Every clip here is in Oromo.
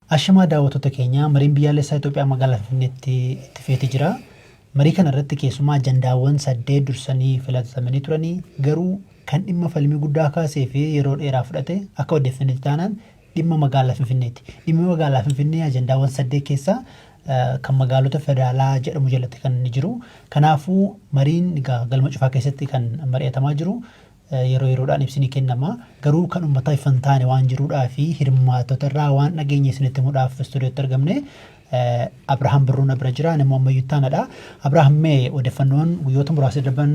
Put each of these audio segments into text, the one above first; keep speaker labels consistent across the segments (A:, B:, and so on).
A: Ashamaa daawwattoota keenya, Mariin Biyyaalessaa Itoophiyaa Magaalaa Finfinneetti itti feeti jira. Marii kana irratti keessumaa ajandaawwan saddeet dursanii filatamanii turanii garuu kan dhimma falmii guddaa kaasee fi yeroo dheeraa fudhate akka odeeffannetti taanaan dhimma magaalaa Finfinneeti. Dhimmi magaalaa Finfinnee ajandaawwan saddeet keessaa kan magaalota federaalaa jedhamu jalatti kan inni jiru. Kanaafuu mariin galma cufaa keessatti kan mari'atamaa jiru. yeroo yeroodhaan ibsi ni kennama. Garuu kan ummataa ifa hin taane waan jiruudhaa fi hirmaattota irraa waan dhageenye isinitti himuudhaaf istuudiyootti argamne Abrahaam Birruu na bira jira. Ani immoo ammayyuu ittaanadha. Abrahaam mee odeeffannoon guyyoota muraasa darban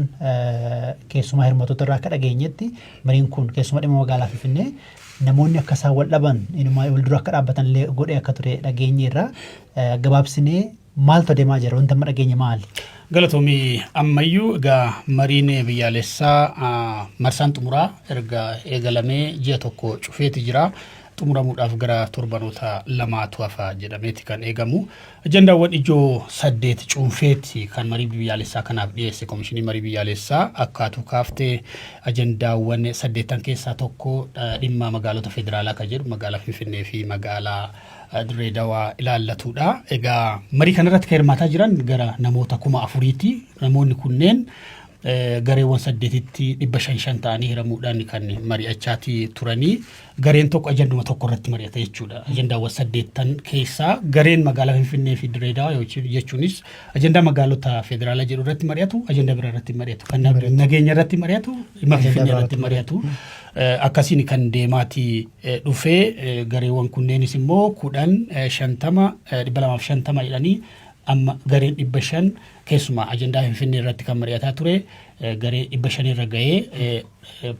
A: keessumaa hirmaattota irraa akka dhageenyetti mariin kun keessumaa dhimma magaalaa Finfinnee namoonni akka isaan wal dhaban inumaa wal dura akka dhaabbatan illee godhee akka ture dhageenye irraa gabaabsinee Maaltu adeemaa jira? Wanti amma dhageenye maali? Galatoomi
B: ammayyuu egaa mariin biyyaalessaa marsaan xumuraa erga eegalamee ji'a tokko cufeeti jira. Xumuramuudhaaf gara torbanoota lamaatu hafa jedhameeti kan eegamu. Ajandaawwan ijoo saddeet cuunfeeti kan marii biyyaalessaa kanaaf dhiyeesse komishinii marii biyyaalessaa akkaatuu kaaftee ajandaawwan saddeettan keessaa tokko dhimma magaalota federaalaa kan jedhu magaalaa Finfinnee fi magaalaa Dirree Dawaa ilaallatuudha. Egaa marii kanarratti kan hirmaataa jiran gara namoota kuma afuriiti. Namoonni kunneen gareewwan saddeetitti dhibba shan shan ta'anii hiramuudhaan kan mari'achaati turanii gareen tokko ajanduma tokko irratti mari'ata jechuudha. Ajandaawwan saddeettan keessaa gareen magaalaa Finfinnee fi Dirree Dawaa jechuunis ajandaa magaalota federaalaa jedhu irratti mari'atu, ajandaa biraa irratti mari'atu, kan nageenya irratti mari'atu, dhimma Finfinnee irratti mari'atu. Akkasiin kan deemaati dhufe. Gareewwan kunneenis immoo 10, 50, 250 jedhanii amma gareen 500 keessumaa ajandaa Finfinnee irratti kan mari'ataa ture garee 500 irra ga'ee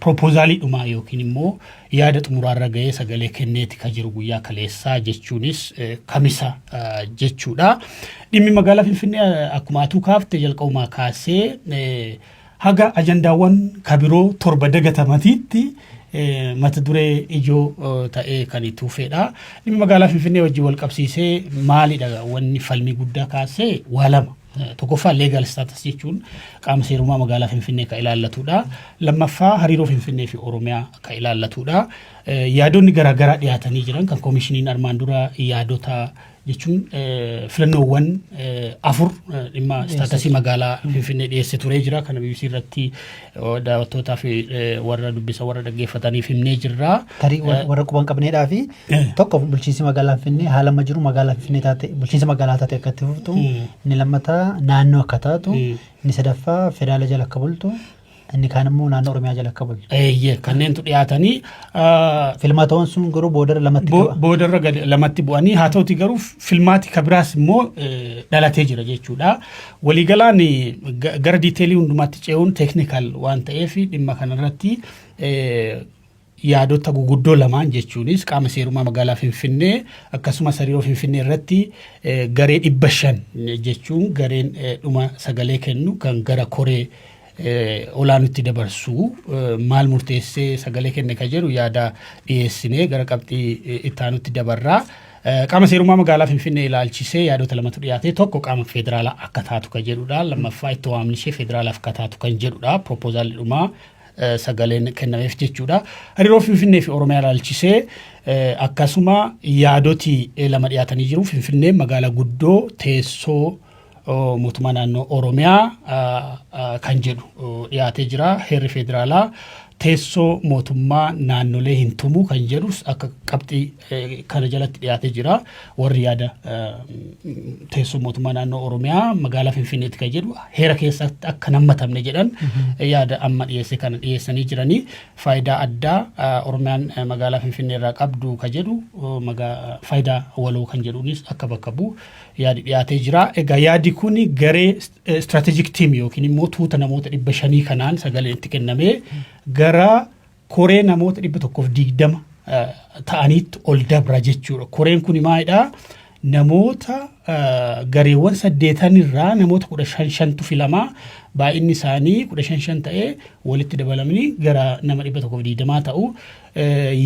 B: proposaalii dhumaa yookiin immoo yaada xumuraa irra ga'ee sagalee kenneeti kan jiru guyyaa kaleessaa jechuunis kamisa jechuudha. Dhimmi magaalaa Finfinnee akkuma atuu kaafte jalqabumaa kaasee Haga ajandaawwan ka biroo torba dagatamatiitti mata duree ijoo ta'ee kan itti fufeedha. Dhimmi magaalaa Finfinnee wajjin wal qabsiisee maalidha wanni falmii guddaa kaasee waa lama. Tokkoffaa leegaal istaatas jechuun qaama seerummaa magaalaa Finfinnee kan ilaallatudha. Lammaffaa hariiroo Finfinnee fi Oromiyaa kan ilaallatudha. Yaadonni garaagaraa dhiyaatanii jiran kan komishiniin armaan dura yaadota jechuun filannoowwan afur dhimma istaatasii magaalaa Finfinnee dhiyeesse turee jira. Kana BBC irratti daawwattootaa fi warra dubbisa warra dhaggeeffataniif himnee jirra. Tarii warra quba hin
A: qabneedhaa fi tokko bulchiinsi magaalaa Finfinnee haala amma jiru magaalaa Finfinnee taate bulchiinsa magaalaa taate akka itti fuftu inni lammataa naannoo akka taatu inni sadaffaa federaala jala akka bultu Inni kaan immoo naannoo Oromiyaa jala akka bulchu. Eeyyee kanneentu dhiyaatanii
B: ah, Filmatoon
A: sun garuu boodara lamatti bo- bu'a. boodarra gad
B: lamatti bu'anii haa ta'uti garuu filmaati ka biraas immoo eh, dhalatee jira jechuudha. Waliigalaan eh, ga- gara diiteelii hundumaatti ce'uun teeknikaal waan ta'eef dhimma kanarratti eh, Yaadota guguddoo lamaan jechuunis qaama seerummaa magaalaa Finfinnee akkasumas hariiroo Finfinnee irratti garee dhibba shan jechuun gareen dhuma sagalee kennu kan gara koree olaanutti dabarsu maal murteessee sagalee kenne ka jedhu yaada dhiyeessinee gara qabxii ittaanutti dabarraa. Qaama seerummaa magaalaa Finfinnee ilaalchisee yaadota lamatu dhiyaate tokko qaama federaalaa akka taatu kan jedhudha. Lammaffaa itti waamni ishee federaalaaf akka taatu kan jedhudha. Proposaalli dhumaa sagaleen kennameef jechuudha. Hariiroo Finfinnee fi Oromiyaa ilaalchisee akkasuma yaadoti lama dhiyaatanii jiru. Finfinnee magaalaa guddoo teessoo mootummaa naannoo Oromiyaa kan jedhu dhiyaatee jira. Heerri federaalaa teessoo mootummaa naannolee hin tumu kan jedhus akka qabxii kana jalatti dhiyaatee jira. Warri yaada teessoo mootummaa naannoo Oromiyaa magaalaa Finfinneetti kan jedhu heera keessatti akka nammatamne jedhan yaada amma dhiyeesse kana dhiyeessanii jiranii faayidaa addaa Oromiyaan magaalaa Finfinnee irraa qabdu kan jedhu faayidaa waloo kan jedhuunis akka bakka bu'u yaadi dhiyaatee jira. Egaa yaadi kun garee istiraatejik tiim yookiin immoo tuuta namoota dhibba shanii kanaan sagaleen itti kennamee gara koree namoota 120 ta'aniitti ol dabra jechuudha. Koreen kun maalidhaa? Namoota gareewwan saddeetan irraa namoota kudha shan shantu filamaa baay'inni isaanii kudha shan shan ta'ee walitti dabalamanii gara nama dhibba tokkoof digdamaa ta'u.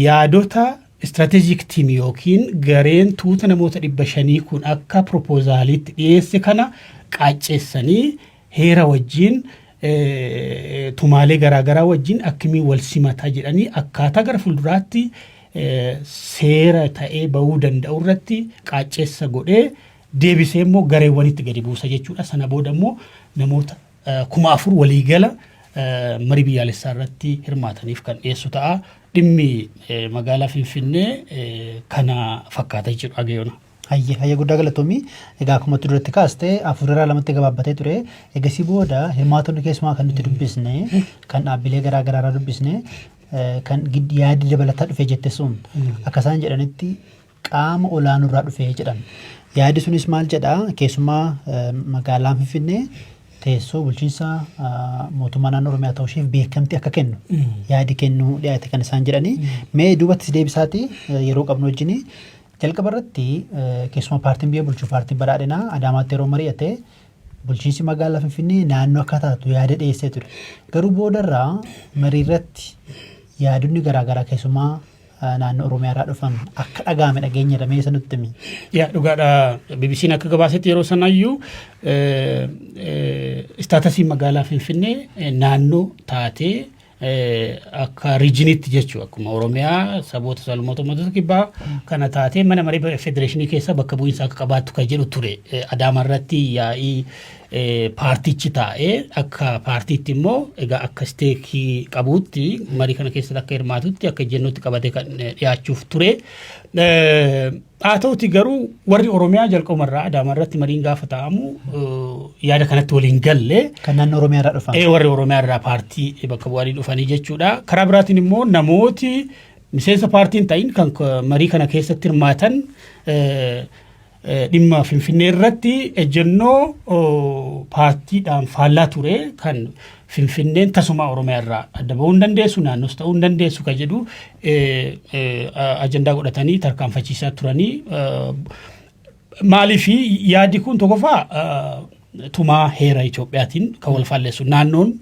B: Yaadota istiraatejik tiim yookiin gareen tuuta namoota dhibba shanii kun akka piroopozaaliitti dhiyeesse kana qaacceessanii heera wajjiin tumaalee garaa garaa wajjiin akkamiin wal simata jedhanii akkaataa gara fulduraatti seera ta'ee ba'uu danda'u irratti qaacceessa godhee deebisee immoo gareewwanitti gadi buusa jechuudha. Sana booda immoo namoota kuma afur waliigala marii biyyaalessaa irratti hirmaataniif kan dhiyeessu ta'a. Dhimmi magaalaa Finfinnee kana fakkaata jechuudha Agayona. Hayyee hayyee guddaa
A: galatoomii. Egaa akkuma itti duratti kaaste afur irraa lamatti gabaabbatee ture. Egasii booda hirmaatonni keessumaa kan nuti dubbisne kan dhaabbilee garaa garaa irraa dubbisne eh, kan gid- yaadi dabalataa dhufe jette sun akka isaan jedhanitti qaama olaanoo irraa dhufe jedhan. Yaadi sunis maal jedha keessumaa eh, magaalaan Finfinnee teessoo bulchiinsa ah, mootummaa naannoo Oromiyaa ta'uu isheef beekamtii akka kennu yaadi kennuu dhiyaate kan isaan jedhanii mee duubatti si deebisaati eh, yeroo qabnu wajjinii Jalqaba irratti keessumaa paartiin biyya bulchu paartiin badhaadhinaa Adaamaatti yeroo mari'ate bulchiinsi magaalaa Finfinnee naannoo akka taatu yaada dhiyeessee ture. Garuu boodarraa marii irratti yaadonni garaagaraa keessumaa naannoo Oromiyaa irraa dhufan akka dhaga'ame dhageenya irra mee isa nutti himi. Yaa dhugaadha
B: BBC'n akka gabaasetti yeroo sanayyuu istaatasiin magaalaa Finfinnee naannoo taatee akka riijiniitti jechuudha. Akkuma Oromiyaa saboota salmoota uummatoota kibbaa kana taatee mana maree federeeshinii keessa bakka bu'iinsa akka qabaattu kan jedhu ture. Adaama irratti yaa'ii paartichi taa'ee akka paartiitti immoo egaa akka isteekii qabuutti marii kana keessatti akka hirmaatutti akka ejjennootti qabatee kan dhiyaachuuf ture. Haa ta'uti garuu warri Oromiyaa jalqabuma irraa Adaama irratti mariin gaafa taa'amu yaada kanatti waliin galle. Kan naannoo Oromiyaa irraa dhufan.
A: Ee warri Oromiyaa irraa paartii
B: bakka bu'anii dhufanii jechuudha. Karaa biraatiin immoo namooti miseensa paartiin ta'in kan marii kana keessatti hirmaatan dhimma Finfinnee irratti ejjennoo paartiidhaan faallaa ture kan Finfinneen tasumaa Oromiyaa irraa adda bahuu hin dandeessu, naannoos ta'uu hin dandeessu kan jedhu ajandaa godhatanii tarkaanfachiisaa turanii maaliif yaadi kun tokkoffaa tumaa heera Itoophiyaatiin kan wal faalleessu naannoon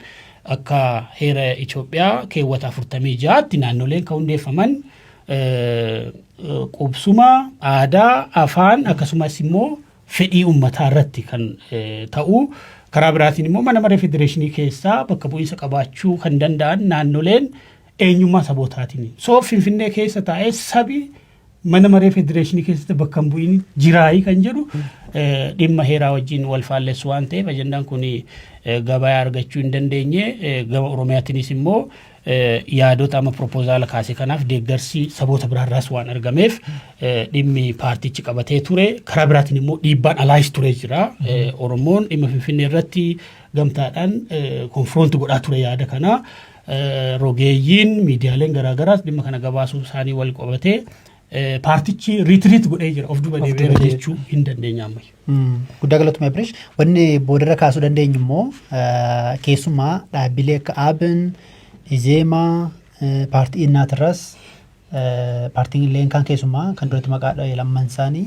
B: akka heera Itoophiyaa keewwata afurtamii ja'aatti naannoleen kan hundeeffaman qubsuma aadaa afaan akkasumas immoo fedhii ummataa irratti kan ta'u. Karaa biraatiin immoo mana maree federeeshinii keessaa bakka bu'iinsa qabaachuu kan danda'an naannoleen eenyummaa sabootaatiin. So Finfinnee keessa taa'ee sabi mana maree federeeshinii keessatti bakka hin bu'iin jiraayii kan jedhu dhimma heeraa wajjin wal faallessu waan ta'eef ajandaan kun gabayaa argachuu hin dandeenye gama Oromiyaatiinis immoo yaadota amma piropozaala kaase kanaaf deeggarsi saboota biraarraas waan argameef dhimmi paartichi qabatee ture karaa biraatiin immoo dhiibbaan alaayis ture jira oromoon dhimma finfinnee irratti gamtaadhaan konfiroonti godhaa ture yaada kana rogeeyyiin miidiyaaleen garaagaraas dhimma kana gabaasuu isaanii wal qabatee Eh, Paartichi riitiriit godhee jira of duuba Of duuba deebi'eera deebi'e. jechuu hin dandeenya ammayyu. Mm, Guddaa galatuma Abirish.
A: Wanni boodarra kaasuu dandeenyu immoo eh, keessumaa dhaabbilee akka Aabin, Izeemaa, eh, paartii Innaatirras, eh, paartiin illee kan keessumaa kan duratti maqaa dha'e lamman isaanii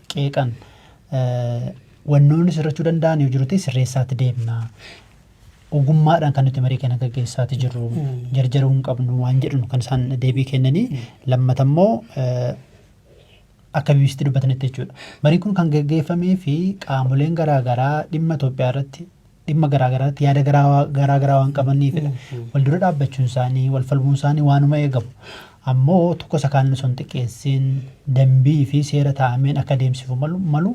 A: qeeqan wannoonni sirrachuu danda'an yoo jirutti sirreessaatti deemna. Ogummaadhaan kan nuti marii kana gaggeessaatti jirru jarjaruu hin qabnu waan jedhanu kan isaan deebii kennanii lammata immoo akka BBCtti dubbatanitti jechuudha. Mariin kun kan gaggeeffamee fi qaamoleen garaagaraa dhimma Itoophiyaa irratti dhimma garaa garaatti yaada garaa garaa garaa waan qabaniifidha. Wal dura dhaabbachuun isaanii, wal falmuun isaanii waanuma eegamu. Ammoo tokko isa kaan osoo hin xiqqeessiin dambii fi seera taa'ameen akka deemsifu malu, malu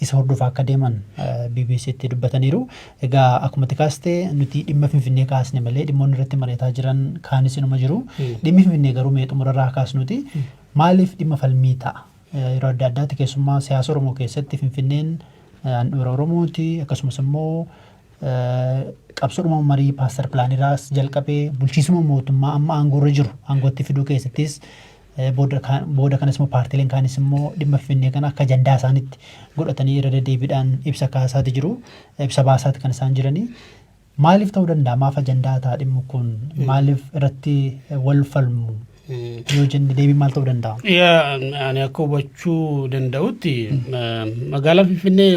A: isa hordofaa akka deeman eh, BBC'tti dubbataniiru. Egaa akkuma itti kaaste nuti dhimma Finfinnee kaasne malee dhimmoonni irratti mari'ataa jiran kaanis inuma jiru. Dhimmi Finfinnee garuu mee xumurarraa kaasnuti maaliif dhimma falmii ta'a? Yeroo adda addaatti keessummaa siyaasa Oromoo keessatti Finfinneen handhuura Oromooti akkasumas immoo qabsoodhuma marii paaster pilaaniraas jalqabee bulchiisuma mootummaa amma aangoorra jiru aangootti fiduu keessattis booda kanas immoo paartileen kaanis immoo dhimma finfinnee kana akka ajandaa isaanitti godhatanii irra deddeebiidhaan ibsa kaasaati jiru ibsa baasaati kan isaan jiranii. Maalif ta'uu danda'a? Maaf ajandaa ta'a dhimmu kun? Maalif irratti wal falmu? Yoo jenne deebiin maal ta'uu danda'a? Yaa ani akka
B: hubachuu danda'utti magaalaa Finfinnee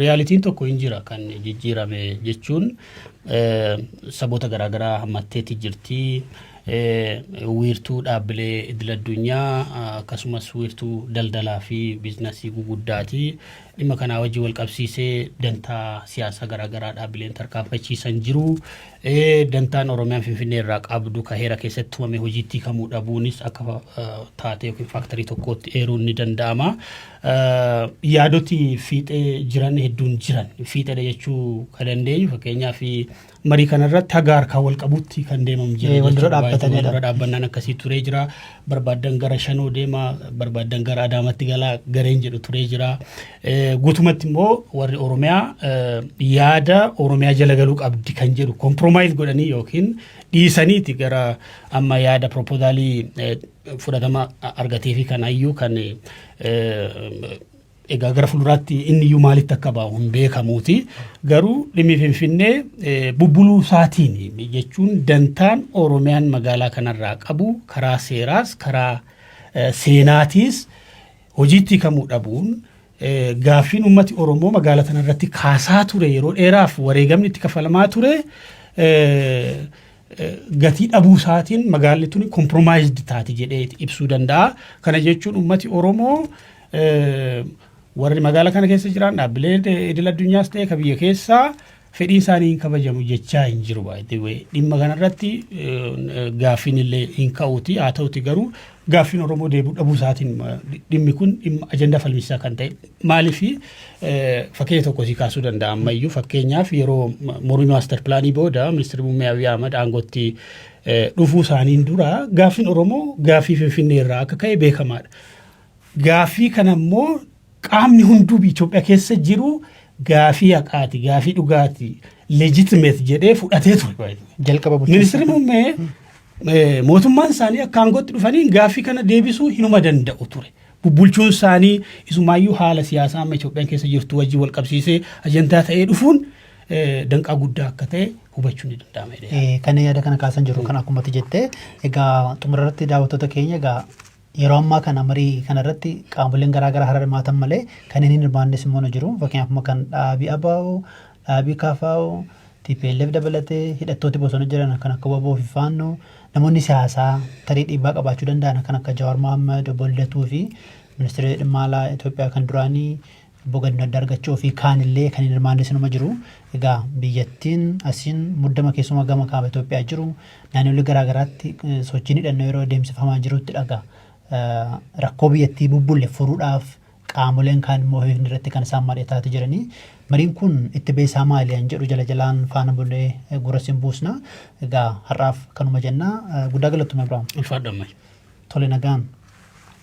B: riyaalitiin tokko hin jira kan jijjiirame jechuun saboota garaagaraa hammatteetti jirti. Wiirtuu dhaabbilee idil addunyaa akkasumas wiirtuu daldalaa fi biiznasii guguddaati. Dhimma kanaa wajjin walqabsiisee dantaa siyaasaa garaagaraa dhaabbileen tarkaanfachiisan jiru. Dantaan Oromiyaan Finfinnee irraa qabdu ka heera keessatti tumame hojiitti hiikamuu dhabuunis akka taatee yookiin faaktarii tokkootti eeruun ni danda'ama. Yaadoti fiixee jiran hedduun jiran. Fiixeedha jechuu ka dandeenyu fakkeenyaaf Marii kanarratti haga harkaa wal qabutti kan deemamu Eh, jira. wal dura jechuudha. dhaabbatanidha. Wal dura dhaabbannaan akkasii turee jira. Barbaaddan gara shanoo deema, barbaaddan gara adaamatti gala gareen jedhu turee jira. Eh, Guutumatti immoo warri Oromiyaa eh, yaada Oromiyaa jala galuu qabdi kan jedhu kompromaayiz godhanii yookiin dhiisaniiti gara amma yaada proposaalii eh, fudhatama argatee fi kan hayyuu kan eh, Egaa gara fuulduraatti inni iyyuu maalitti akka ba'u hin beekamuuti. Garuu dhimmi Finfinnee eh, bubbuluu isaatiin jechuun dantaan Oromiyaan magaalaa kanarraa qabu karaa seeraas karaa eh, seenaatiis hojiitti hiikamuu dhabuun eh, gaaffiin uummati Oromoo magaalaa kanarratti kaasaa ture yeroo dheeraaf wareegamni itti kafalamaa ture eh, eh, gatii dhabuu isaatiin magaalli tuni kompromaayizd taati jedhee ibsuu danda'a. Kana jechuun uummati Oromoo warri magaala kana keessa jiran dhaabbilee idil addunyaas ta'e ka biyya keessaa fedhii isaanii hin kabajamu jechaa hin jiru baay'ee dhimma kanarratti gaaffiin illee hin ka'uuti haa ta'uti garuu gaaffiin Oromoo deebi'u dhabuu isaatiin dhimmi kun dhimma ajandaa falmisaa kan ta'e maaliif fakkeenya tokko sii kaasuu danda'a ammayyuu fakkeenyaaf yeroo mormii maaster pilaanii booda ministeerri muummee Abiy Ahmad aangootti dhufuu isaaniin dura gaaffiin Oromoo gaaffii Finfinnee irraa akka ka'e beekamaadha. Gaaffii kana immoo qaamni hunduu biyya Itoophiyaa keessa jiru gaaffii haqaati, gaaffii dhugaati, legitimate jedhee fudhatee ture. Jalqaba bulchiinsa. Ministeerri
A: muummee
B: eh, mootummaan isaanii akka aangootti dhufaniin gaaffii kana deebisuu hinuma danda'u ture. Bubbulchuun isaanii isumaayyuu haala siyaasaa amma Itoophiyaan keessa jirtu wajjin wal qabsiisee ajandaa ta'ee dhufuun eh, danqaa guddaa akka ta'e hubachuun ni danda'ama. jedhee yaada. Eh, Kan yaada kana kaasan
A: jiru kan akkumatti jette egaa xumura irratti daawwattoota keenya egaa Yeroo ammaa kana marii kana irratti qaamoleen garaa garaa hara hirmaatan malee kanneen hin hirmaannes immoo ni jiru. Fakkeenyaaf amma kan dhaabii ABO, dhaabii KFO, TPLF dabalatee hidhattooti bosona jiran kan akka waboo fi faannoo namoonni siyaasaa tarii dhiibbaa qabaachuu danda'an kan akka Jawaar Mohaammed, Obbo Lidatuu fi ministeera dhimma alaa Itoophiyaa kan duraanii Obbo Ganna Andaargachoo fi kaan illee kan hin hirmaannes inuma jiru. Egaa biyyattiin asiin muddama keessumaa gama kaaba Itoophiyaa jiru naannolee garaa garaatti sochiin hidhannoo yeroo adeemsifamaa jirutti dhaga. Rakkoo biyyattii bubbulle furuudhaaf qaamoleen kaan immoo hiikni irratti kan isaan mari'ataati jiranii. Mariin kun itti beesaa maali an jedhu jala jalaan faana bulee gurra sin buusna. Egaa har'aaf kanuma jennaa guddaa galatoomi Abrahaam. Ulfaadhu ammayyuu. Tole nagaan.